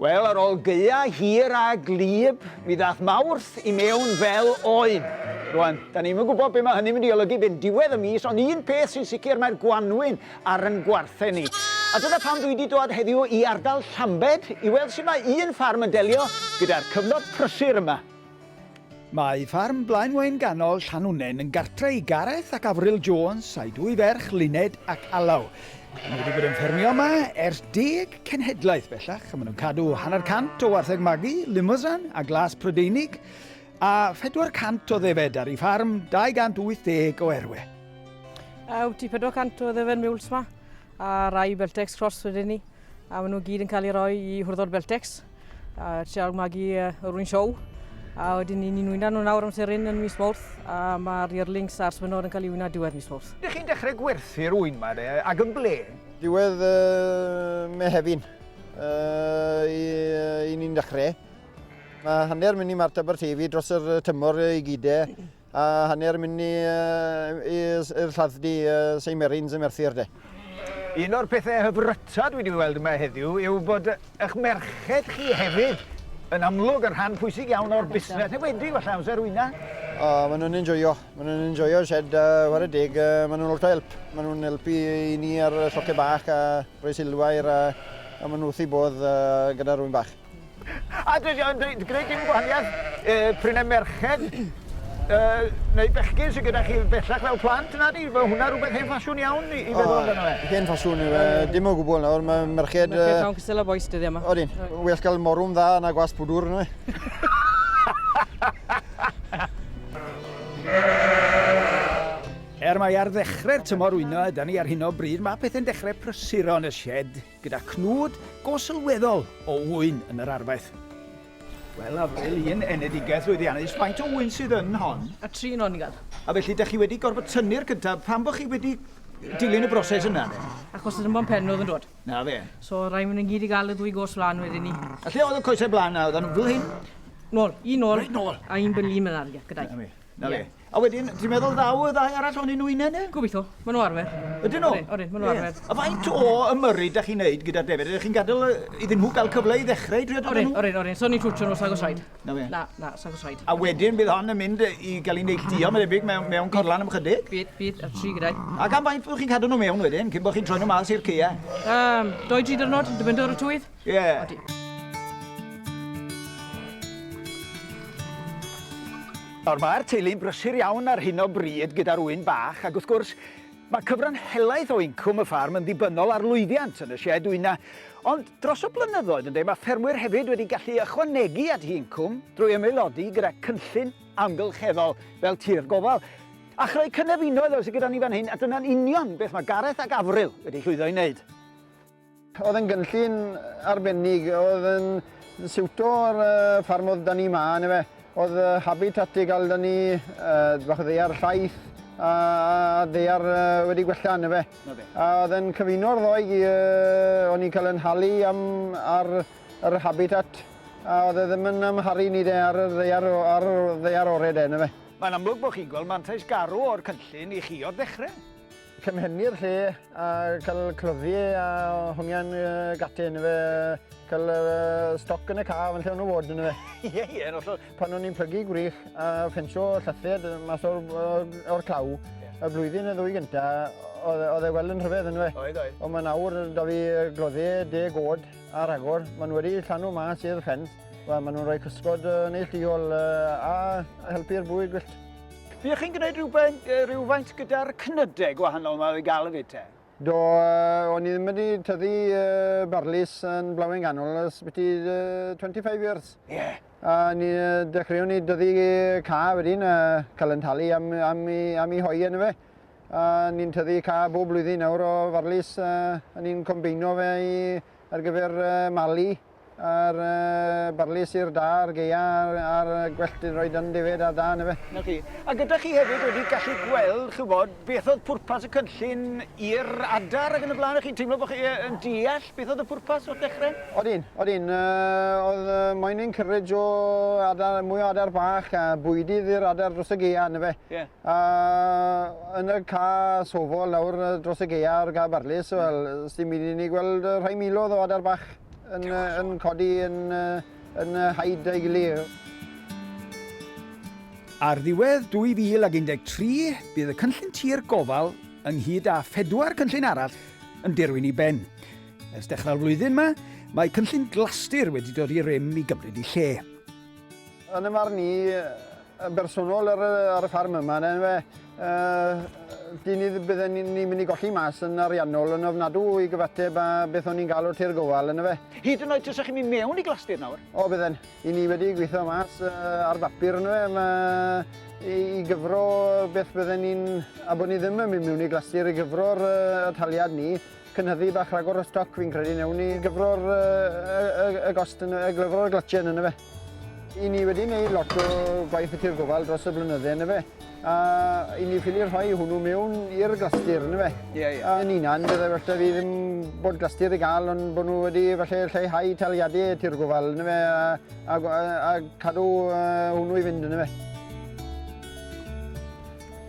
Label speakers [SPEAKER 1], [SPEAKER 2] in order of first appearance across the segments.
[SPEAKER 1] Wel, ar ôl gyia hir a glib, mi ddath Mawrth i mewn fel oen. Rwan, da ni'n mynd gwybod beth mae hynny'n mynd i olygu byn diwedd y mis, ond un peth sy'n sicr mae'r gwanwyn ar yn gwarthau ni. A dyna pam dwi wedi dod heddiw i ardal Llambed i weld sut mae un ffarm yn delio gyda'r cyfnod prysur yma. Mae ffarm Blaenwaun Ganol Llanwnnen yn gartre i Gareth ac Avril Jones a'i dwy ferch Luned ac Alaw. Maen nhw wedi bod yn ffermio yma ers deg cenhedlaeth bellach. Maen nhw'n cadw hanner cant o wartheg magu, limousin a glas Prydeinig, a 400 o ddefed ar ei ffarm, 280 o erwe. Yw
[SPEAKER 2] ti 400 o ddefen miwls ma, a rai Beltex Cross wedyn ni. A maen nhw gyd yn cael ei roi i hwrddod Beltex, a trial magu yr un siow. A wedyn ni'n ni'n wyna nhw nawr am serin yn mis Mawrth, a mae'r Yearlings a'r Swynod yn cael ei wyna diwedd mis Mawrth. Dych chi'n dechrau gwerthu'r
[SPEAKER 1] ŵyn yma de, ac yn ble? Diwedd
[SPEAKER 3] uh, Mehefin, uh, i, uh, i ni'n dechrau. Mae hanner mynd i Mart Aberteifi dros yr tymor i gyd e. A hanner mynd i'r lladd-dy Seimerins y Merthyr de. Un o'r
[SPEAKER 1] pethau hyfryta dwi wedi weld yma heddiw yw bod eich merched chi hefyd yn amlwg yn rhan pwysig iawn o'r busnes, neu wedi gwella amser wyna. O, maen nhw'n
[SPEAKER 3] enjoyo. Maen nhw'n enjoyo y shed, a war y deg, maen nhw'n lot o help. Maen nhw'n helpu i ni ar lloce bach a rhoi silwair a, a maen nhw wrth i bodd gyda rwy'n bach. A dwi
[SPEAKER 1] yn dweud, gwneud dim gwahaniaeth e, pryn e merched e, neu bechgyn sydd gyda chi bellach fel plant, na di? Mae hwnna rhywbeth hen ffasiwn iawn i, i feddwl amdano fe. Hen ffasiwn i fe,
[SPEAKER 3] dim o gwbl nawr, mae merched... Merched llawn cystal o boes
[SPEAKER 2] dyddiau yma. Odin, well cael
[SPEAKER 3] morwm dda na gwas pwdwr, neu?
[SPEAKER 1] Er mae ar ddechrau'r tymor wyno yda ni ar hyn o bryd, mae pethau'n dechrau prysuro yn y shed. Gyda cnwd go sylweddol o ŵyn yn yr arfaeth. Wel, Avril, un enedigaeth lwyddiannus, faint o ŵyn sydd yn hon? A tri yn oniad.
[SPEAKER 2] A felly, da chi wedi
[SPEAKER 1] gorfod tynnu'r cyntaf, pam bod chi wedi dilyn y broses yna, de? Achos yr ymban pen
[SPEAKER 2] oedd yn dod. Na fe. So, rhaid
[SPEAKER 1] mynd yn gyd i
[SPEAKER 2] gael y ddwy gos flan wedyn ni. A lle oedd y coesau blaen
[SPEAKER 1] na, oedd nhw'n fel hyn? Nôl, un nôl.
[SPEAKER 2] Reit nôl. A un byllu mynd
[SPEAKER 1] argell
[SPEAKER 2] gyda'i. Na fe, na fe. A
[SPEAKER 1] wedyn, ti'n meddwl ddaw y ddau arall o'n nhw unan e? Gobeithio, maen nhw arfer.
[SPEAKER 2] Ydyn nhw? Ydyn,
[SPEAKER 1] maen nhw arfer. A
[SPEAKER 2] faint o
[SPEAKER 1] ymyrryd da chi'n neud gyda'r defyd? Ydych chi'n gadael iddyn nhw gael cyfle i ddechrau i drio dod nhw? Orin, orin, So ni'n twtio nhw sag o
[SPEAKER 2] said. Na fe? Na, na, sag
[SPEAKER 1] o said. A
[SPEAKER 2] wedyn bydd hon yn mynd
[SPEAKER 1] i gael ei neilltuo, mae'n debyg, mewn, mewn corlan am chydig? Bydd, bydd, a tri gyda'i.
[SPEAKER 2] A gan faint bod chi'n cadw
[SPEAKER 1] nhw mewn wedyn, cyn bod chi'n troi nhw mas i'r ceia? Um, doi, tri
[SPEAKER 2] dyrnod, dibyndu ar y tywydd. Yeah. Odi.
[SPEAKER 1] Nawr mae'r teulu'n brysur iawn ar hyn o bryd gyda'r ŵyn bach ac wrth gwrs mae cyfran helaeth o incwm y ffarm yn ddibynnol ar lwyddiant yn y sied wyna. Ond dros y blynyddoedd ynddo, mae ffermwyr hefyd wedi gallu ychwanegu at i incwm drwy ymaelodi gyda cynllun amgylcheddol fel tir gofal. A chreu cynefinoedd oes gyda ni fan hyn a dyna'n union beth mae Gareth ac Afril wedi llwyddo i wneud. Oedd
[SPEAKER 3] yn gynllun arbennig, oedd yn siwto'r ffarm oedd da ni ma, neu fe. Oedd habitat i gael da ni, bach o ddeiar llaeth, a ddeiar wedi gwella, neu fe. A oedd yn cyfuno'r ddoi, o'n i'n cael yn halu am ar yr habitat, a oedd e ddim yn amharu ni de ar yr ddeiar, ar ddeiar ore de, neu fe. Mae'n amlwg bod chi'n gweld
[SPEAKER 1] mantais garw o'r cynllun i chi o'r dechrau. Cymhennu'r lle
[SPEAKER 3] a cael cloddi a hongian gati yn fe, cael stoc yn y caf yn lle o'n nhw fod yn fe. Ie, ie, yn hollol. Pan
[SPEAKER 1] o'n i'n plygu gwrych
[SPEAKER 3] a ffensio llythed mas o'r, or claw, yeah. y blwyddyn y ddwy gynta, oedd e wel yn rhyfedd yn fe. Oedd, oedd. Ond mae nawr da
[SPEAKER 1] fi
[SPEAKER 3] gloddi deg od a ragor. Mae nhw wedi llanw mas i'r ffens. Mae nhw'n rhoi cysgod neilltuol a helpu'r bwyd gwyllt. Ydych chi'n gwneud
[SPEAKER 1] rhywbeth, rhywfaint gyda'r cnydau gwahanol yma i gael y fyd te? Do, uh,
[SPEAKER 3] o'n i ddim wedi tyddu uh, barlis yn blawen ganol ys byti uh, 25 years. Ie. Yeah. A
[SPEAKER 1] ni uh,
[SPEAKER 3] dechreuwn ni dyddu ca wedyn, uh, cael yn talu am, am, i, am i hoi yn y fe. A ni'n tyddu ca bob blwyddyn nawr o farlis, uh, a ni'n combeino fe i, ar gyfer uh, mali. A'r barley syr da, a'r geia, a'r gwellt yn rhoi dyn defaid a da, yndyfe? 'Na chi. A gyda chi
[SPEAKER 1] hefyd wedi gallu gweld, ch'wbod, beth oedd pwrpas y cynllun i'r adar ac yn y blaen, a chi'n teimlo bod chi yn deall beth oedd y pwrpas o'r dechrau? Odin, odin.
[SPEAKER 3] oedd moyn encourage o adar, mwy o adar bach, a bwydydd i'r adar dros y geia, yndyfe? Ie. A yn y ca sofol nawr dros y geia o'r ca barlys, wel, sdim byd i ni gweld rhai milodd o adar bach. yn, yn codi yn, yn haid ei gilydd.
[SPEAKER 1] Ar ddiwedd 2013, bydd y cynllun tir gofal ynghyd â phedwar cynllun arall yn dirwyn i ben. Ers dechrau'r flwyddyn yma, mae cynllun Glastir wedi dod i rym i gymryd i lle.
[SPEAKER 3] Yn y marn i, yn bersonol ar y ffarm yma, yn enw e, dyn ni bydden ni'n mynd i golli mas yn ariannol yn ofnadw i gyfateb â beth o'n ni'n cael o'r Tir Gofal, yn efe. Hyd yn oed tasech chi'n mynd
[SPEAKER 1] mewn i glastir nawr? O, bydden. I ni
[SPEAKER 3] wedi gweithio mas ar bapur, yn efe, i gyfro beth bydden ni'n... a bod ni ddim yn mynd mewn i glastir, i gyfro'r taliad ni, cynhyddu bach rhagor o stoc, fi'n credu, newn ni gyfro'r gost, yn efe, gyfro'r glatjen, yn efe. I ni wedi gwneud lot o gwaith y tir gofal dros y blynydde yn efe. A i ni ffili rhoi hwnnw mewn i'r glastir yn efe. Ie, ie. A yn unan, byddai well da fi ddim bod glastir i gael, ond bod nhw wedi falle lleihau taliadau y tir gofal yn efe a, a, a, a cadw uh, hwnnw i fynd yn efe.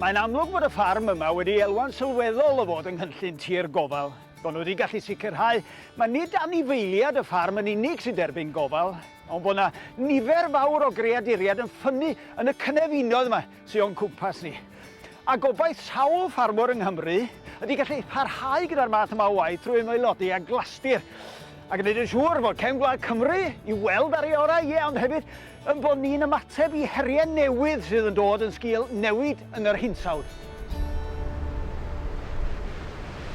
[SPEAKER 1] Mae'n amlwg bod y ffarm yma wedi elwa'n sylweddol o fod yng nghynllun tir gofal Maen nhw wedi gallu sicrhau mae nid anifeiliaid y ffarm yn unig sy'n derbyn gofal, ond bod yna nifer fawr o greaduriaid yn ffynnu yn y cynefinoedd yma sydd o'n cwmpas ni. A gobaith sawl ffarmwr yng Nghymru ydy gallu parhau gyda'r math yma o waith trwy ymaelodi â Glastir a gwneud yn siŵr bod cefn gwlad Cymru i'w weld ar ei orau, ie, ond hefyd yn bod ni'n ymateb i heriau newydd sydd yn dod yn sgil newid yn yr hinsawdd.